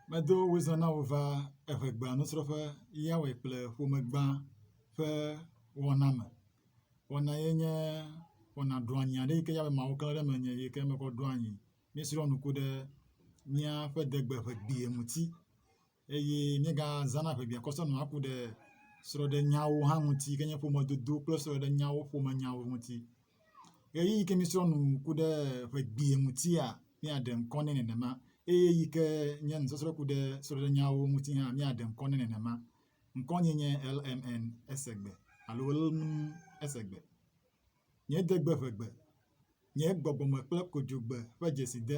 Medo wizã na wò va eŋɛgbea nusrɔ̃ƒe ya wɔe kple ƒomegbã ƒe wɔna me. Wɔna ye nye wɔna ɖɔanyi aɖe yike yea be Mawu klã ɖe menye yike mekɔ ɖo anyi. Míesrɔ̃ nuku ɖe míaƒe degbe ŋegbea ŋuti. eye míegazãna ʋebiakɔsɔ nɔa ŋku ɖe srɔ̃ɖenyawo hã ŋuti yi ke nye ƒomedodo kple srɔ̃ɖenyawo ƒomenyawo ŋuti. Ɣeyiɣi yi ke míesrɔ̃ nu ku ɖe ƒe gbea ŋutia míaɖe ŋkɔ nɛ nenema eye eyi ke nye nusɔsrɔ̃ ku ɖe srɔ̃ɖenyawo ŋuti hã míaɖe ŋkɔ nɛ nenema. Ŋkɔnye nye LMN esegbe alo lm esegbe. Nye degbe ƒe gbe. Nye gbɔgbɔme kple kodzogbe ƒe dzeside.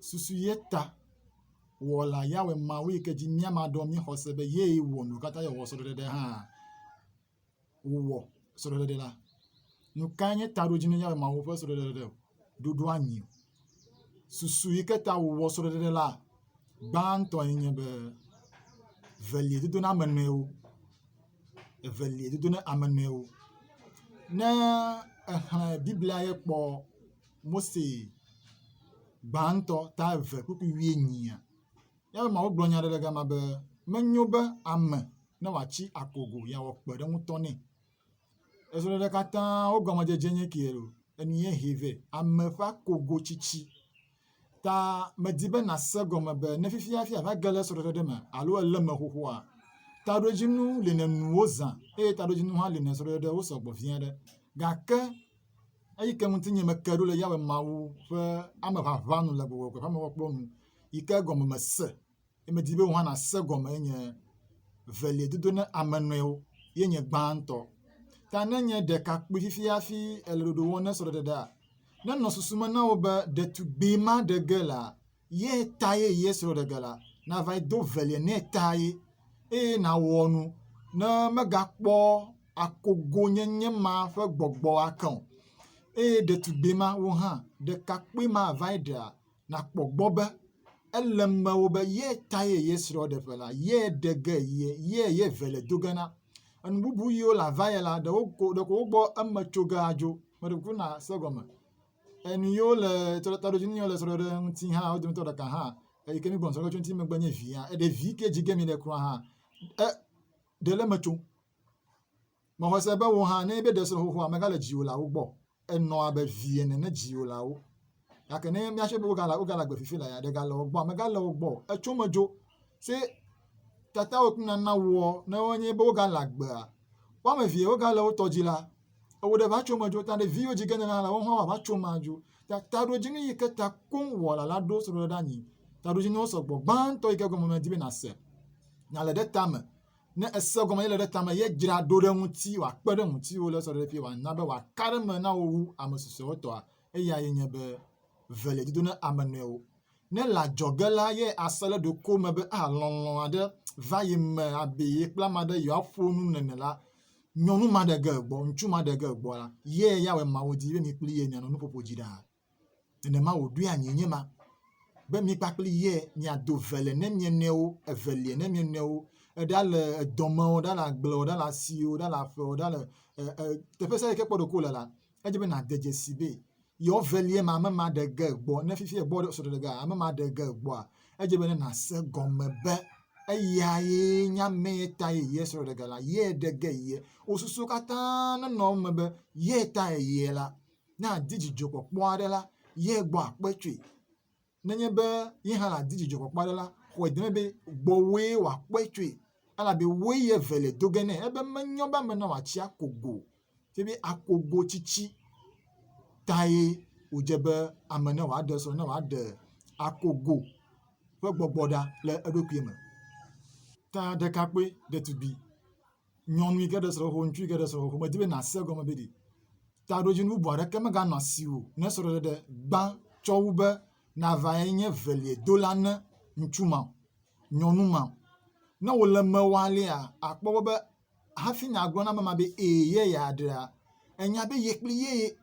susu ye ta Wɔla Yahweh Mawu yi ke dzi míame aɖewo ƒe xɔse be yee wɔ nu katã eye wòwɔ srɔ̃ɖeɖe hã. Wòwɔ srɔ̃ɖeɖe la. Nu kae nye taɖodzi na Yahweh Mawu ƒe srɔ̃ɖeɖe? Ɖoɖo anyi o. Susu yi ke ta wòwɔ srɔ̃ɖeɖe la gbãtɔ ye nye be evelia dodo na ame nɔewo. Evelia dodo na ame nɔewo. Ne èxlẽ Biblia ye kpɔ Mose gbãtɔ ta eve kpukpui wuienyia? Míaƒe Mawu gblɔ nya aɖe ɖe gama be menyo be ame ne wòatsi akogo yeawɔ kpe ɖe ŋutɔ nɛ. Ezɔɖeɖe katã wo gɔmedzedze nye kee loo, enu ye hee vɛ. Ame ƒe akogo tsitsi ta medi be nàse gɔme be ne fifiafi àva ge ɖe srɔ̃ɖeɖe ɖe me alo èlé eme xoxoa, taɖodzinu li nènu wozã eye taɖodzinu hã li nèsrɔ̃ ɖeɖe wosɔ gbɔ vi aɖe. Gake eyi ke ŋuti nye meke ɖo le Yehowa Mawu ƒe ame ʋaʋã nu le gbɔgbɔ kple mɔkpɔkpɔ nu yi ke gɔme mese eye medi be wò hã nàse gɔme ye nye evelia dodo na ame nɔewo ye nye gbãtɔ. Ta ne nye ɖekakpui fifi hafi èle ɖoɖo wɔm na srɔ̃ɖeɖea, nenɔ susu me na wò be ɖetugbui ma ɖe ge la, ye ta ye ye srɔ̃ ɖe ge la, nava yi do velia nɛ ta ye eye nàwɔ nu ne megakpɔ akogonyenye ma ƒe gbɔgbɔ ake o. Eye ɖetugbui ma, wò hã, ɖekakpui ma va yi ɖea, nàkpɔ gbɔ be ele mewò be ye ta ye ye srɔ̃ ɖe ƒe la, ye ɖe ge ye, ye ye velia do ge na. Enu bubu yiwo le ava ye la, ɖeko wokpɔ eme tso ge adzo. Meɖe kuku nàse egɔme. Enu yiwo le taɖodzi nu yiwo le srɔ̃ɖeɖe ŋuti hã wo dometɔ ɖeka hã eyi ke míegblɔ srɔ̃ɖeɖe ŋuti megbe nye via. Eɖe vi ke dzi ge mi le kura hã e ɖe le eme tso. Mexɔ se be wò hã ne be ɖe srɔ̃ xoxoa megale dziwò le awo gbɔ. Enɔ abe vi ene ne dziwò le awo. Gake ne míase be wogale wogale agbe fifi la ya ɖe gale wo gbɔ megale wo gbɔ. Etso me dzo. Se tatawɔ kple nana wɔ ne wonye be wogale agbea. Woame evea wogale wotɔ dzi la. Ewo ɖe va tso me dzo ta ɖe viwo dzi gene na la wo hã va tso me dzo. Ta taɖodzinu yi ke ta koŋ wɔla la ɖo srɔ̃ɖe ɖe anyi. Taɖodzinuwo sɔgbɔ gbãtɔ yi ke gɔme medi be nase. Nale ɖe tame. Ne ese gɔme ye le ɖe tame ye dzra ɖo ɖe ŋuti wòakpe ɖe ŋutiwo le srɔ̃ɖeƒe wòana be wòaka ɖe me na wò wu ame susɔewo tɔa. Eya ye nye be ve le dido na ame nɔewo. Ne le adzɔge la, ye ase ɖe ɖokuiwo me be aa lɔlɔ̃ aɖe va ye me abe ye kple ame aɖe yewoaƒo nu nene la, nyɔnu ma ɖe ge egbɔ, ŋutsu ma ɖe ge egbɔ la, ye ya wɔe Mawu di be mi kple ye mianɔ nuƒoƒo dzi ɖaa. Nenema wòɖoe anyi nye ma be mi kpakple ye miado ve le ne mia nɔewo, eve le ne mia nɔewo, eɖa le edɔme o, eɖa le agble o, eɖa le asi o, eɖa le aƒe o, eɖa le e e teƒe sia teƒe yi ke kpɔ ɖokuiwò le la, edze be nàde dzesi be yewo velie ma ame ma ɖe ge gbɔ ne fifi egbɔ ɖe sɔɖe ge ame ma ɖe ge gbɔa edze be ne nàse gɔme be eya ye nye ame ye ta ye yie sɔɖe ge la yie ɖe ge yie wo susu katã nenɔ eme be yie ta ye yie la ne adi dzidzɔkpɔkpɔ aɖe la yie gbɔ akpe tsoe nenye be ye hã nàdi dzidzɔkpɔkpɔ aɖe la, xɔe deme be gbɔwòe wòakpɔe tsoe, elabe wòe ye eve le do ge nɛ. Ebe menyɔ be ame na wòatsi ako go o, ke be ako go tsitsi tae wòdze be ame ne wòaɖe srɔ̃, ne wòaɖe ako go ƒe gbɔgbɔ ɖa le eɖokui me. Ta ɖekakpui, ɖetugbui. nyɔnu yi ke ɖe srɔ̃ xoxo, ŋutsu yi ke ɖe srɔ̃ xoxo, medi be nàse egɔme be ɖi taɖodzinu bubu aɖeke meganɔ asiwò ne srɔ̃ɖeɖe gbã tsɔ wu be nàva nye veliedola na ŋutsu ma o, nyɔnu ma o. Ne wòle eme wɔ alea, àkpɔ egbɔ be hafi nàgblɔ na ame ma be, ee ye yeaɖea, ènya be ye kpli yee.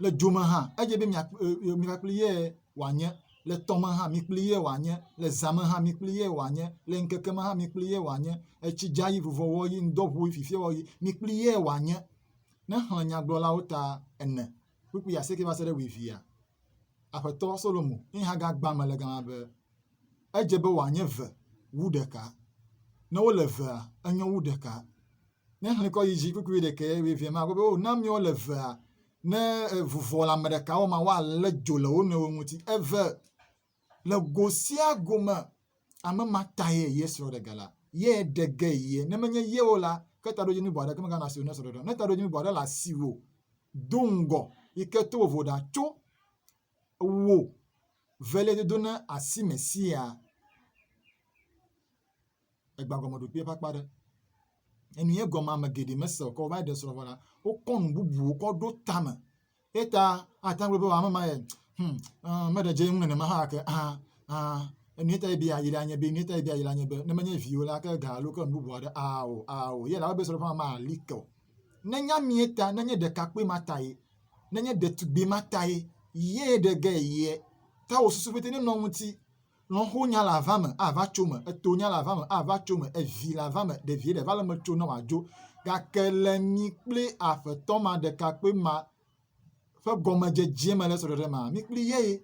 le dzo me hã edze be mi kple ye wòanye, le tɔ me hã mi kple ye wòanye, le zã me hã mi kple ye wòanye, le ŋkeke me hã mi kple ye wòanye, etsi dza yi vuvɔ wɔ yi ŋdɔ ʋu yi fifia wɔ yi mi kple ye wòanye. Ne xlẽ nyagblɔlawo ta ene kpukpui asieke va se ɖe wuievia, Aƒetɔ Solomo ye hã gagbã me le gama be, Edze be wòanye ve wu ɖeka. Ne wole vea, enyo wu ɖeka. Ne xlẽ kɔ yi dzi kpukpui ɖekɛ ebe evea magblɔ be, o na mi wole evea. Ne eŋu vɔ le ame ɖeka wɔm woalé dzo le wo nɔewo ŋuti. Eve, le go sia go me, ame ma tae ye srɔ̃ ɖe ge la, ye ɖe ge ye. Ne menye ye o la, ke taɖodzinu bɔ aɖeke meganɔ asiwò ne srɔ̃ ɖeɖe o. Ne taɖodzinu bɔ aɖe le asiwò, do ŋgɔ yi ke to vovo ɖa tso wò veliadodo na asime sia. egbagɔmeɖokpe ƒe akpa aɖe. Enu ye gɔme ame geɖe mese o ke wova ɖe srɔ̃ vɔ la, wokɔ nu bubuwo kɔ ɖo tame. Eta ate ŋu be ame ma ye hum uh, meɖe dze ŋu nenema hã ke ah ah enu ye ta ye bia yi la nye be enu ye ta ye bia yi la nye be ne menye viwo la ke ga alo ke nu bubu aɖe ah o ah o ye la be srɔ̃ ƒe ame ali ke o. Ne nya mi ta ne nye ɖekakpui ma ta ye ne nye ɖetugbi ma ta ye ye ɖe ge ye ta wò susu ƒete nenɔ ŋuti Lɔ̃xo nya le ava me ava tso me, eto nya le ava me ava tso me, evi le ava me ɖevie ɖe va le me tso ne wòadzo. Gake le mi kple Aƒetɔ ma ɖekakpui ma ƒe gɔmedzedze me le srɔ̃ɖeɖe mea, mi kpli ye ye.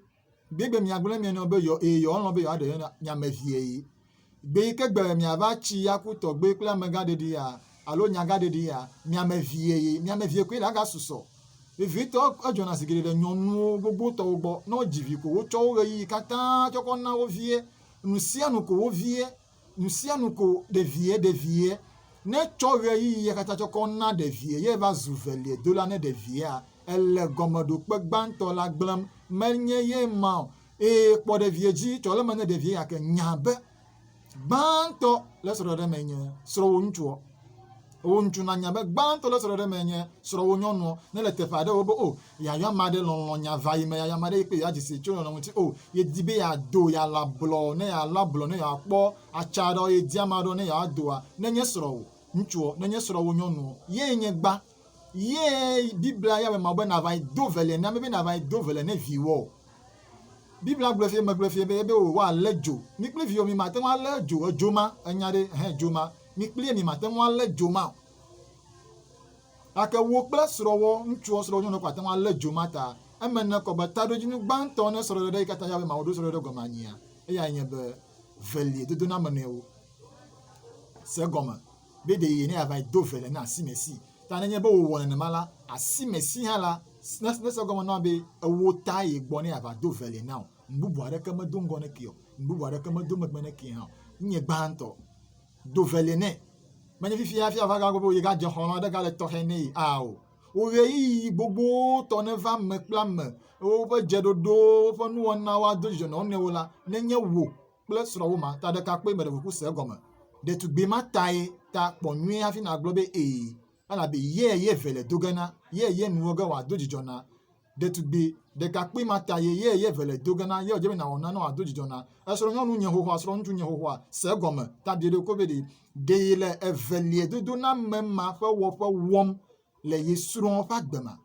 Gbegbe miagblɔ ne mia nɔ be yɔ eye yɔlɔ̃ be yewoaɖe nye ame vie ye. Gbe yi ke gbe miava tsi aku tɔgbe kple amegã ɖeɖia, alo nyagaɖeɖi ya, miame vie ye miame vie koe la ga susɔ. Vevitɔ edzɔna zi geɖe ɖe nyɔnuwo gbogbo tɔwo gbɔ, ne wodzi vi ko wotsɔ wo ɣeyiɣi katã tsɔ kɔ na wo vie, nusianu ko wo vie, nusianu ko ɖevie, ɖevie ne tsɔ ɣeyiɣi ya katã tsɔ kɔ na ɖevie ye va zu velie dola ne ɖeviea, ele gɔmeɖokpe gbãtɔ la gblẽm, menye ye ma o, ee kpɔ ɖevie dzi, tsɔ le me ne ɖevie ya ke nya be. gbãtɔ le srɔ̃ɖeɖe me nye srɔ̃wò ŋutsuɔ wò ŋutsu nanya be gbãtɔ le srɔ̃ɖeɖe me nye srɔ̃wò nyɔnuɔ ne le teƒe aɖewo be o oh, yayɔ ame aɖe lɔlɔ nya va yi me yayɔ ame aɖe yi kpe yeadzi si tso lɔlɔ ŋuti o oh, yedi be yeado yeala blɔ ne yeala blɔ ne yeakpɔ atsa aɖewo yedi ame aɖewo ne yeadoa nenye srɔ̃wò ŋutsuɔ nenye srɔ̃wò nyɔnuɔ ye nye gbã Ye Biblia ya mema be nava nyi do vele na mi be nava nyi do vele ne viwò o. Biblia gblɔe fie megblɔe fie be ebe wò woalé dzo. Mi kple viwò mi mate ŋu alé dzo edzo ma enya ɖe hẽ edzo ma. Mi kplie mi mate ŋu alé dzo ma o. Gake wò kple srɔ̃wò ŋutsuɔ srɔ̃wò nyɔnuɔ ko ate ŋu alé dzo ma ta. Eme ne kɔ be taɖodzinu gbãtɔ ne srɔ̃ɖeɖe yi katã ya be Mawu ɖo srɔ̃ɖeɖe gɔme anyia eyae nye be velie dodoname nɔewo. Se egɔme. be ɖe ye ne yeava yi do vele na simesi. Ta nenye be wòwɔ nenema la, asimesi hã la, nese egɔme na wo be ewɔ ta ye gbɔ ne yeava do vele na o. Nu bubu aɖeke medo ŋgɔ ne ke o. Nu bubu aɖeke medo megbe ne ke hã o. Nye gbãtɔ. Do vele nɛ. Menye fifia hafi ava gagblɔ be yegadze xɔlɔ̃ aɖe gale tɔxɛ nɛ aa o. Wò ɣeyiɣi gbogbotɔ neva ame kple ame, woƒe dzeɖoɖowo, woƒe nuwɔnawo ado dzidzɔ na wo nɔewo la, nenye wò kple srɔ̃wò ma ta ɖekakpui me ɖe ʋuƒu se egɔme. Ɖetugbui ma tae ta kpɔ nyuie hafi nàgblɔ be ee, elabe ye ye ve le do ge na, ye ye nuwo ge wòado dzidzɔ na. Ɖetugbui ɖekakpui ma ta ye ye ye ve le do ge na, ye wòdze be nàwɔ nane wòado dzidzɔ na. Esrɔ̃nyɔnu nye xoxoa, srɔ̃ŋutsu nye xoxoa, se egɔme, ta biɖe ɖokui be ɖe ɖee le evelie dodoname ma ƒe wɔƒe wɔm le ye srɔ̃ ƒe agbe ma.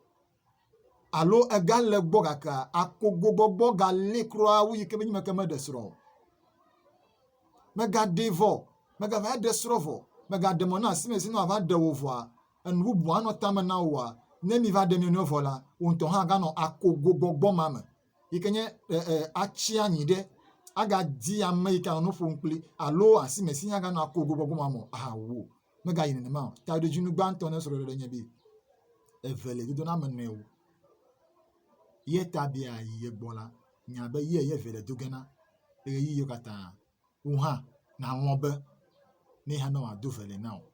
alo egale gbɔ gake akogogbɔgbɔ galée kura wu yi ke be ŋmeke meɖe srɔ̃ o. Mègaɖee vɔ o, mègava ɖe srɔ̃ vɔ o, mègaɖe mɔ na asime si ne woava ɖe wò vɔa, enu bubu anɔ tame na wòa, ne miva ɖe mia nɔewo vɔ la, wò ŋutɔ hã aganɔ akogogbɔgbɔ ma me, yi ke nye atsi anyi ɖe, agadi ame yi ke anɔ nu ƒom kpli alo asime si hã aganɔ akogogbɔgbɔ ma me o, ahawu o. Megayi nenema o. Taɖodzinu gbãtɔ ne srɔ̃ɖeɖe nye be eve le dodo na ame nɔewo. Ye ta be yeayi ye gbɔ la, nya be ye ye eve le do ge na ɣeyiɣiwo katã. Wò hã nàlɔ̃ be ne ye hã ne wòado ve le na wò.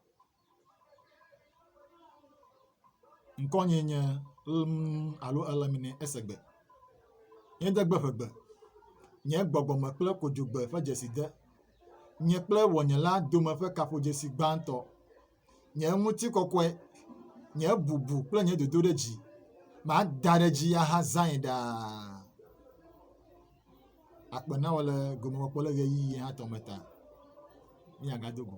Ŋkɔnyee nye Lmn alo Lmine Esegbe. Nye degbe ƒegbe. Nye gbɔgbɔme kple kodzogbe ƒe dzeside. nye kple ŋɔnye la dome ƒe kaƒodzesi gbãtɔ. Nye ŋutikɔkɔe, nye bubu kple nye dodoɖedzi, mada ɖe edzi ahazãe ɖaa. Akpe nawò le gomekpɔkpɔ le ɣeyiɣi hatɔ me ta. Míagado go.